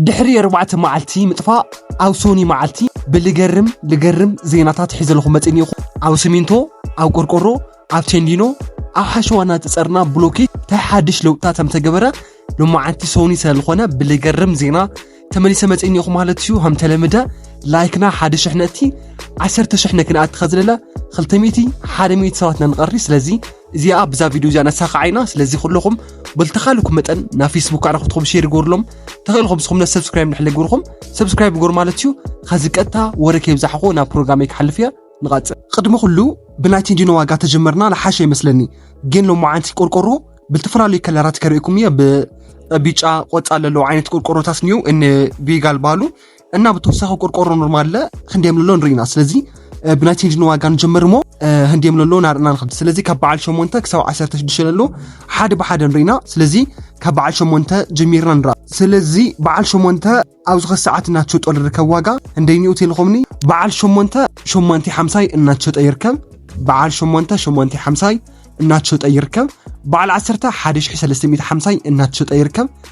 ድሕሪ ኣርባዕተ መዓልቲ ምጥፋእ ኣብ ሶኒ መዓልቲ ብልገርም ልገርም ዜናታት ሒዘልኹ መፅን ኢኹ ኣብ ስሚንቶ ኣብ ቆርቆሮ ኣብ ቴንዲኖ ኣብ ሓሸዋ እናተፀርና ብሎኬት እንታይ ሓድሽ ለውጥታት ከምተገበረ ሎማዓንቲ ሶኒ ስለዝኾነ ብልገርም ዜና ተመሊሰ መፅን ኢኹ ማለት እዩ ከምተለምደ ላይክና ሓደ ሽሕ ነእቲ ዓሰርተ ሽሕ ነክንኣቲ ከዝለለ ክልተ ሚእቲ ሓደ ሚእቲ ሰባት ነንቐሪ ስለዚ እዚኣ ብዛ ቪድዮ እዚኣ ነሳኻዓ ኢና ስለዚ ኩለኹም በልተኻልኩም መጠን ናብ ፌስቡክ ኣነ ክትኩም ሼር ይገብርሎም ተኽእልኹም ስኹም ነ ሰብስክራይብ ንሕለ ግብርኹም ሰብስክራይብ ግበር ማለት እዩ ኸዚ ቀጥታ ወረ ከይብዛሕኹ ናብ ፕሮግራመይ ክሓልፍ እያ ንቐፅል ቅድሚ ኩሉ ብናይ ቴንዲኖ ዋጋ ተጀመርና ልሓሸ ይመስለኒ ግን ሎማዓንቲ ቆርቆሮ ብልተፈላለዩ ከለራት ከርእኩም እየ ብቢጫ ቆፃ ለለዉ ዓይነት ቆርቆሮታት እኒው ን ቢጋል ባሉ እና ብተወሳኺ ቆርቆሮ ኖርማል ለ ክንዲ የምልሎ ንርኢ ኢና ስለዚ ብናይ ቼንጅ ንዋጋ ንጀምር እሞ ህንዲ የምልሎ ናርእና ንክድ ስለዚ ካብ በዓል ሸሞንተ ክሳብ ዓሰርተ ሽዱሽተ ለሎ ሓደ ብሓደ ንርኢና ስለዚ ካብ በዓል ሸሞንተ ጀሚርና ንርኣ ስለዚ በዓል ሸሞንተ ኣብ ዝኸ ሰዓት እናትሸጦ ዝርከብ ዋጋ እንደይኒኡ ቴሌኮምኒ በዓል ሸሞንተ ሸሞንተ ሓምሳይ እናትሸጠ ይርከብ በዓል ሸሞንተ ሸሞንተ ሓምሳይ እናትሸጠ ይርከብ በዓል ዓሰርተ ሓደ ሽሒ ሰለስተ ሚእቲ ሓምሳይ እናትሸጠ ይርከብ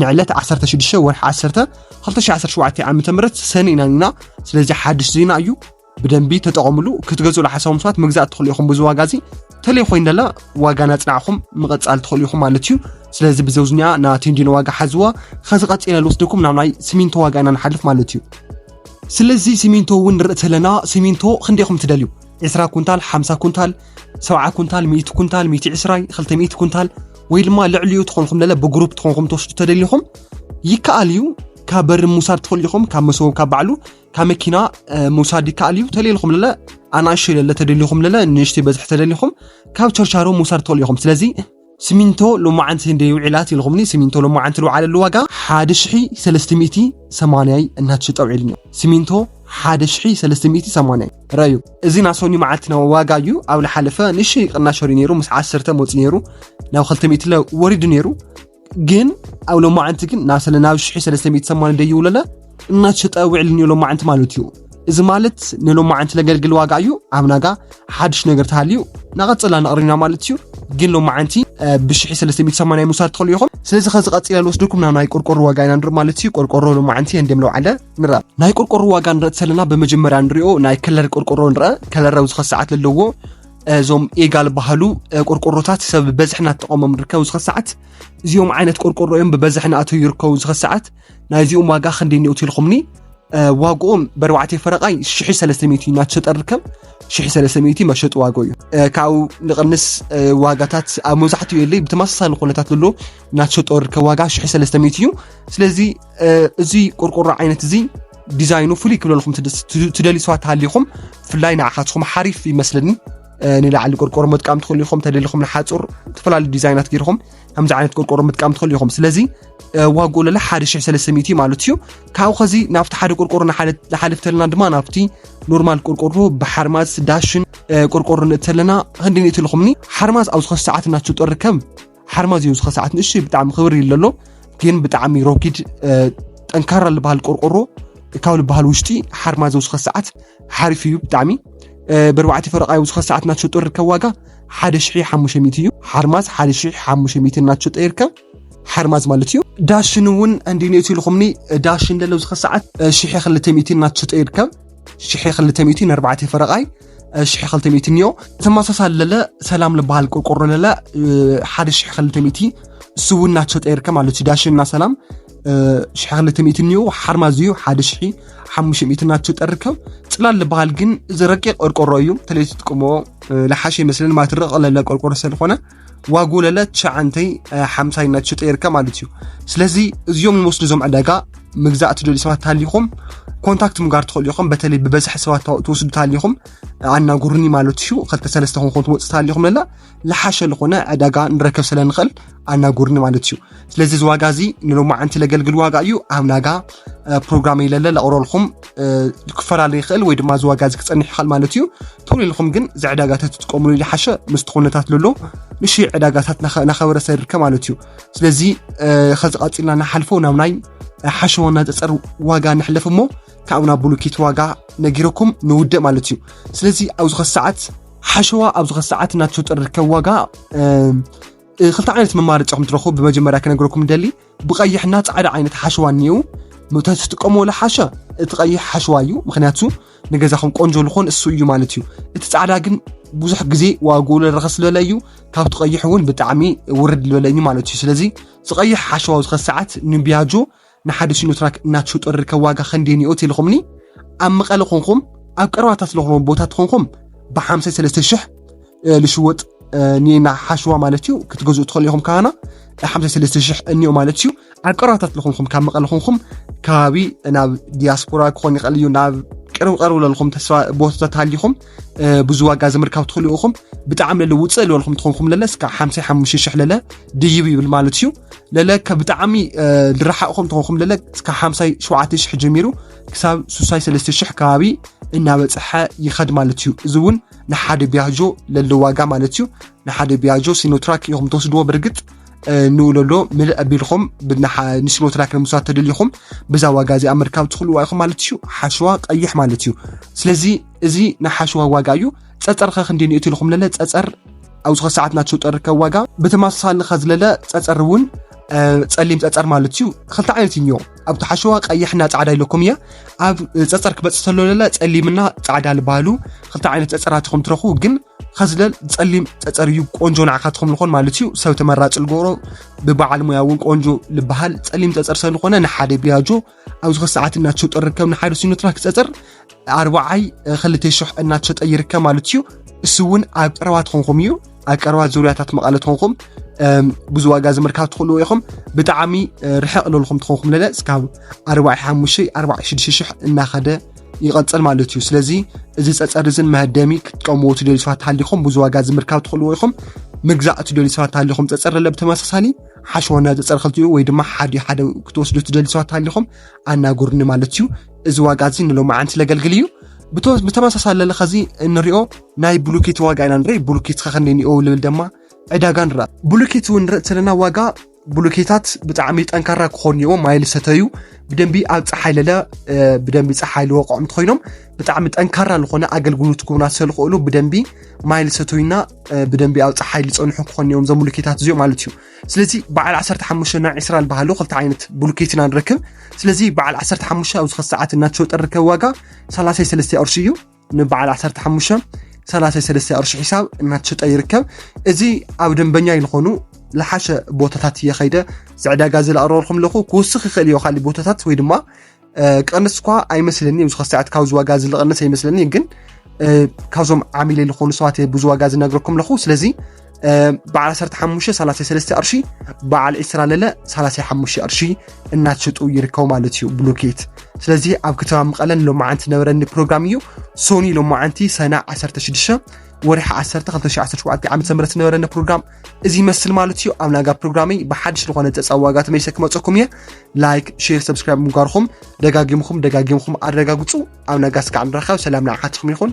ንዕለት ዓሰርተ ሽዱሽተ ወርሒ ዓሰርተ ክልተ ሽሕ ዓሰርተ ሸውዓተ ዓመተ ምህረት ሰኒ ኢና ኒና ስለዚ ሓድሽ ዜና እዩ ብደንቢ ተጠቐምሉ ክትገዝእሉ ሓሳቦም ሰባት ምግዛእ ትኽእሉ ኢኹም ብዙ ዋጋ እዚ ተለይ ኮይኑ ደላ ዋጋ ናፅናዕኹም ምቐፃል ትኽእሉ ኢኹም ማለት እዩ ስለዚ ብዘውዝኒያ ና ቴንዲኖ ዋጋ ሓዝዋ ከዚ ቀፂለ ልወስደኩም ናብ ናይ ሲሚንቶ ዋጋ ኢና ንሓልፍ ማለት እዩ ስለዚ ሲሚንቶ እውን ንርኢ ተለና ሲሚንቶ ክንደይኹም ትደልዩ 20 ኩንታል 50 ኩንታል ሰብዓ ኩንታል ሚእቲ ኩንታል ሚእቲ ዕስራይ ክልተ ሚእቲ ኩንታል ወይ ድማ ልዕሊኡ ትኾንኹም ለለ ብግሩፕ ትኾንኹም ትወስዱ ተደሊኹም ይከኣል እዩ ካብ በሪ ምውሳድ ትኽእሉ ኢኹም ካብ መሰቦም ካብ ባዕሉ ካብ መኪና ምውሳድ ይከኣል እዩ ተደሊኹም ለለ ኣናእሽተይ ለለ ተደሊኹም ለለ ንእሽተይ በዝሒ ተደሊኹም ካብ ቸርቻሮ ምውሳድ ትኽእሉ ኢኹም ስለዚ ስሚንቶ ሎማዓንቲ እንድየ ውዒላት ኢልኹምኒ ስሚንቶ ሎማዓንቲ ልውዓለሉ ዋጋ ሓደ ሽሒ ሰለስተ ሚእቲ ሰማንያይ እናተሸጠ ውዒሉኒ ስሚንቶ ሓደ ሽሒ ሰለስተ ሚእቲ ሰማንያይ ረዩ እዚ ናብ ሶኒ መዓልቲ ናብ ዋጋ እዩ ኣብ ልሓለፈ ንእሽተይ ቅናሽ ወሪዩ ነይሩ ምስ ዓሰርተ መውፅእ ነይሩ ናብ ክልተ ሚእቲ ወሪዱ ነይሩ ግን ኣብ ሎማዓንቲ ግን ናብ ሰለ ናብ ሽሒ ሰለስተ ሚእቲ ሰማንያ ደይውለለ እናተሸጠ ውዕል ንሎማዓንቲ ማለት እዩ እዚ ማለት ንሎማዓንቲ ነገልግል ዋጋ እዩ ኣብ ናጋ ሓድሽ ነገር ተሃልዩ ናቐፅላ ነቕሪና ማለት እዩ ግን ሎማዓንቲ ብሽሒ 380 ምውሳድ ትኽእሉ ኢኹም ስለዚ ከዚ ቀፂለ ንወስድኩም ናብ ናይ ቆርቆሮ ዋጋ ኢና ንርኢ ማለት እዩ ቆርቆሮ ሎማዓንቲ እንዲም ለውዓለ ንረአ ናይ ቆርቆሮ ዋጋ ንረእ ተለና ብመጀመርያ ንሪኦ ናይ ከለር ቆርቆሮ ንረአ ከለር ኣብዚ ከሰዓት ዘለዎ እዞም ኤጋል ባህሉ ቆርቆሮታት ሰብ ብበዝሒ እናተጠቐሞም ንርከብ ዝኸሰዓት እዚኦም ዓይነት ቆርቆሮ እዮም ብበዝሒ ናእተው ይርከቡ ዝኸሰዓት ናይዚኦም ዋጋ ክንደይ እኒኦ ትልኹምኒ ዋግኦም በርባዕተ ፈረቓይ ሽሕ ሰለስተ ሚእቲ እዩ እናተሸጠ ርከብ ሽሕ ሰለስተ ሚእቲ መሸጢ ዋጋ እዩ ካብኡ ንቕንስ ዋጋታት ኣብ መብዛሕትኡ የለይ ብተመሳሳሊ ኩነታት ዘሎ እናተሸጠ ርከብ ዋጋ ሽሕ ሰለስተ ሚእቲ እዩ ስለዚ እዚ ቆርቆሮ ዓይነት እዚ ዲዛይኑ ፍሉይ ክብለልኩም ትደልዩ ሰባት ተሃሊኹም ብፍላይ ንዓኻትኹም ሓሪፍ ይመስለኒ ንላዕሊ ቆርቆሮ ምጥቃም ትኽእሉ ኢኹም ተደሊኹም ንሓፁር ዝተፈላለዩ ዲዛይናት ገይርኹም ከምዚ ዓይነት ቆርቆሮ ምጥቃም ትኽእሉ ኢኹም ስለዚ ዋግኡ ለለ 1300 እዩ ማለት እዩ ካብኡ ከዚ ናብቲ ሓደ ቆርቆሮ ንሓልፍ ተለና ድማ ናብቲ ኖርማል ቆርቆሮ ብሓርማዝ ዳሽን ቆርቆሮ ንእት ተለና ክንዲ ንእት ልኹምኒ ሓርማዝ ኣብ ዝኸ ሰዓት እናትሸጦ ርከብ ሓርማዝ እዩ ዝኸ ሰዓት ንእሽ ብጣዕሚ ክብር እዩ ለሎ ግን ብጣዕሚ ሮኪድ ጠንካራ ዝበሃል ቆርቆሮ ካብ ዝበሃል ውሽጢ ሓርማዝ ዝኸ ሰዓት ሓሪፍ እዩ ብጣዕሚ ብርባዕቲ ፈረቃ ዝኸ ሰዓት እናትሸጦ ርከብ ዋጋ ሓደ ሽሒ ሓሙሽተ ሚእቲ እዩ ሓርማዝ ሓደ ሽሒ ሓሙሽተ ሚእቲ እናትሸጦ ይርከብ ሓርማዝ ማለት እዩ ዳሽን እውን እንዲነቱ ኢልኹምኒ ዳሽን ለለው ዝኸ ሰዓት ሽሐ ክልተ ሚእቲ እናትሸጠ ይርከብ ሽሐ ክልተ ሚእቲ ንኣርባዕተ ፈረቓይ ሽሐ ክልተ ሚእቲ እኒኦ ተመሳሳሊ ለለ ሰላም ዝበሃል ቆርቆሮ ለለ ሓደ ሽሐ ክልተ ሚእቲ እሱ እውን እናትሸጠ ይርከብ ማለት እዩ ዳሽን እና ሰላም ሽሐ ክልተ ሚእቲ እኒኦ ሓርማዝ እዩ ሓደ ሽሒ ሓሙሽተ ሚእቲ እናትሸጠ ይርከብ ፅላል ዝበሃል ግን እዚ ረቂቕ ቆርቆሮ እዩ ተለይ ትጥቀምዎ ለሓሸ ይመስለን ማትርቕ ለለ ቆርቆሮ ስለዝኾነ ዋጎለለ ትሸዓንተይ ሓምሳይ እናትሸጠ ይርከብ ማለት እዩ ስለዚ እዚኦም ንወስዱ እዞም ዕዳጋ ምግዛእ ትደልዩ ሰባት ታሊኹም ኮንታክት ምጋር ትኽእሉ ኢኹም በተለይ ብበዝሒ ሰባት ትወስዱ ታሊኹም ኣናጉርኒ ማለት እዩ ክልተ ሰለስተ ኮንኮን ትወፅእ ታሊኹም ለላ ልሓሸ ዝኾነ ዕዳጋ ንረከብ ስለንኽእል ኣናጉርኒ ማለት እዩ ስለዚ እዚ ዋጋ እዚ ንሎማዓንቲ ለገልግል ዋጋ እዩ ኣብ ናጋ ፕሮግራም ይለለ ለቕረልኩም ክፈላለ ይኽእል ወይ ድማ እዚ ዋጋ እዚ ክፀንሕ ይኽእል ማለት እዩ ቶሎ ኢልኩም ግን እዚ ዕዳጋታት ትጥቀምሉ ዝሓሸ ምስቲ ኩነታት ለሎ ንሽ ዕዳጋታት ናኸበረሰ ይርከብ ማለት እዩ ስለዚ ከዚ ቀፂልና ንሓልፎ ናብ ናይ ሓሸዎ እናፀፀር ዋጋ ንሕለፍ እሞ ካብኡ ናብ ብሉኪት ዋጋ ነጊረኩም ንውደእ ማለት እዩ ስለዚ ኣብዚ ከሰዓት ሓሸዋ ኣብዚ ከሰዓት እናተሸጠ ዝርከብ ዋጋ ክልተ ዓይነት መማረፂ ከም ትረኽቡ ብመጀመርያ ክነግረኩም ደሊ ብቀይሕና ፃዕዳ ዓይነት ሓሸዋ እኒኡ ትጥቀምዎ ለሓሸ እቲ ቀይሕ ሓሸዋ እዩ ምክንያቱ ንገዛኹም ቆንጆ ዝኾን እሱ እዩ ማለት እዩ እቲ ፃዕዳ ግን ብዙሕ ግዜ ዋግኡ ረኸስ ዝበለ እዩ ካብቲ ቀይሕ እውን ብጣዕሚ ውርድ ዝበለ እዩ ማለት እዩ ስለዚ ዝቀይሕ ሓሸዋ ዝኸ ሰዓት ንቢያጆ ንሓደ ሲኖትራክ እናትሽጡሪ ከ ዋጋ ከንደይ ኒኦ ትልኹምኒ ኣብ መቐለ ኮንኹም ኣብ ቀረባታት ለኹም ቦታት ኮንኹም ብሓምሳይ ሰለስተ ሽሕ ልሽወጥ ኒና ሓሽዋ ማለት እዩ ክትገዝኡ ትኽእሉ ኢኹም ካባና ሓምሳይ ሰለስተ ሽሕ እኒኦ ማለት እዩ ኣብ ቀረባታት ለኹንኹም ካብ መቐለ ኮንኹም ከባቢ ናብ ዲያስፖራ ክኾን ይኽእል እዩ ናብ ቅርብ ቀርቡ ለልኹም ተስፋ ቦታታት ሃሊኹም ብዙ ዋጋ ዝምርካብ ትኽእሉ ኢኹም ብጣዕሚ ለለ ውፅእ ልበልኩም ትኾንኩም ለለ እስካ ሓምሳይ ሓሙሽተ ሽሕ ለለ ድይብ ይብል ማለት እዩ ለለ ብጣዕሚ ልረሓቕኹም ትኾንኩም ለለ እስካ ሓምሳይ ሸውዓተ ሽሕ ጀሚሩ ክሳብ ሱሳይ ሰለስተ ሽሕ ከባቢ እናበፅሐ ይኸድ ማለት እዩ እዚ እውን ንሓደ ቢያጆ ለለ ዋጋ ማለት እዩ ንሓደ ቢያጆ ሲኖትራክ ኢኹም ተወስድዎ ብርግፅ ንውለሎ ምልእ ኣቢልኹም ንስኖ ትራክ ንምስራት ተደሊኹም ብዛ ዋጋ እዚኣ ምርካብ ትኽእልዋ ኢኹም ማለት እዩ ሓሸዋ ቀይሕ ማለት እዩ ስለዚ እዚ ናይ ሓሸዋ ዋጋ እዩ ፀፀር ከ ክንደይ ንእት ኢልኹም ለለ ፀፀር ኣብዚ ከ ሰዓት ናቸው ጠርከ ዋጋ ብተመሳሳሊ ከ ዝለለ ፀፀር እውን ፀሊም ፀፀር ማለት እዩ ክልተ ዓይነት እዮ ኣብቲ ሓሸዋ ቀይሕና ፃዕዳ ኢለኩም እያ ኣብ ፀፀር ክበፅእ ተሎ ለለ ፀሊምና ፃዕዳ ዝበሃሉ ክልተ ዓይነት ፀፀራት ኢኹም ትረኽቡ ግን ኸዝለል ጸሊም ጸጸር እዩ ቆንጆ ንዓኻ ትኸምልኾን ማለት እዩ ሰብ ተመራጭ ልገብሮ ብበዓል ሙያ እውን ቆንጆ ልበሃል ጸሊም ጸጸር ሰብ ዝኾነ ንሓደ ቢያጆ ኣብዚ ከሰዓት እናተሸጦ ርከብ ንሓደ ሲኖትራ ክጸጸር ኣርባዓይ ክልተ ሽሕ እናተሸጠ ይርከብ ማለት እዩ እሱ እውን ኣብ ቀረባ ትኾንኩም እዩ ኣብ ቀረባ ዙርያታት መቐለ ትኾንኩም ብዙ ዋጋ ዝምርካብ ትኽእልዎ ኢኹም ብጣዕሚ ርሕቕ ለልኹም ትኾንኩም ለለ እስካብ ኣርባዕ ሓሙሽተ ኣርባዕ ሽዱሽተ ሽሕ እናኸደ ይቐጽል ማለት እዩ ስለዚ እዚ ጸጸር እዝን መህደሚ ክትቀምዎ ትደልዩ ሰባት ሃሊኹም ብዙ ዋጋ ዝምርካብ ትኽእልዎ ኢኹም ምግዛእ ትደልዩ ሰባት ሃሊኹም ጸጸር ለለ ብተመሳሳሊ ሓሸወና ጸጸር ክልቲኡ ወይ ድማ ሓደ ሓደ ክትወስዱ ትደልዩ ሰባት ሃሊኹም ኣናጉርኒ ማለት እዩ እዚ ዋጋ እዚ ንሎሚ ዓንት ለገልግል እዩ ብተመሳሳሊ ለለ ከዚ እንሪኦ ናይ ብሉኬት ዋጋ ኢና ንርኢ ብሉኬት ከኸንደይ ንኦ ልብል ድማ ዕዳጋ ንርኣ ብሉኬት እውን ንርኢ ዘለና ዋጋ ብሎኬታት ብጣዕሚ ጠንካራ ክኾኑ እዮም ማይ ዝሰተዩ ብደንቢ ኣብ ፀሓይ ለለ ብደንቢ ፀሓይ ዝወቅዖም እንትኮይኖም ብጣዕሚ ጠንካራ ዝኾነ ኣገልግሎት ክቡና ስለዝኽእሉ ብደንቢ ማይ ዝሰተዩና ብደንቢ ኣብ ፀሓይ ዝፀንሑ ክኾኑ እዮም እዞም ብሎኬታት እዚኦም ማለት እዩ ስለዚ በዓል 15 ና 20 ዝበሃሉ ክልተ ዓይነት ብሎኬት ኢና ንረክብ ስለዚ በዓል 15 ኣብዚ ክሰዓት እናተሸወጠ ርከብ ዋጋ 33 ቅርሺ እዩ ንበዓል 15 33 ቅርሺ ሒሳብ እናተሸጠ ይርከብ እዚ ኣብ ደንበኛ ይልኾኑ ዝሓሸ ቦታታት እየ ከይደ ዝዕዳጋ ዝለቕረበልኩም ኣለኹ ክውስኽ ይኽእል እዮ ካሊእ ቦታታት ወይ ድማ ቀንስ እኳ ኣይመስለኒ እዚ ከሰዓት ካብዚ ዋጋ ዝልቐንስ ኣይመስለኒ ግን ካብዞም ዓሚለ ዝኾኑ ሰባት ብዙ ዋጋ ዝነግረኩም ኣለኹ ስለዚ በዓል 15 33 ቅርሺ በዓል 20 ለለ 35 ቅርሺ እናትሸጡ ይርከቡ ማለት እዩ ብሎኬት ስለዚ ኣብ ከተማ መቐለን ሎማዓንቲ ነበረኒ ፕሮግራም እዩ ሶኒ ሎማዓንቲ ሰና 16 ወርሒ 10 2017 ዓ ም ነበረኒ ፕሮግራም እዚ ይመስል ማለት እዩ ኣብ ናጋ ፕሮግራመይ ብሓድሽ ዝኾነ ፀፃ ዋጋ ተመሊሰ ክመፀኩም እየ ላይክ ሼር ሰብስክራይብ ምግባርኩም ደጋጊምኩም ደጋጊምኩም ኣረጋግፁ ኣብ ናጋ ስካዕ ንራኸብ ሰላም ንዓኻትኩም ይኹን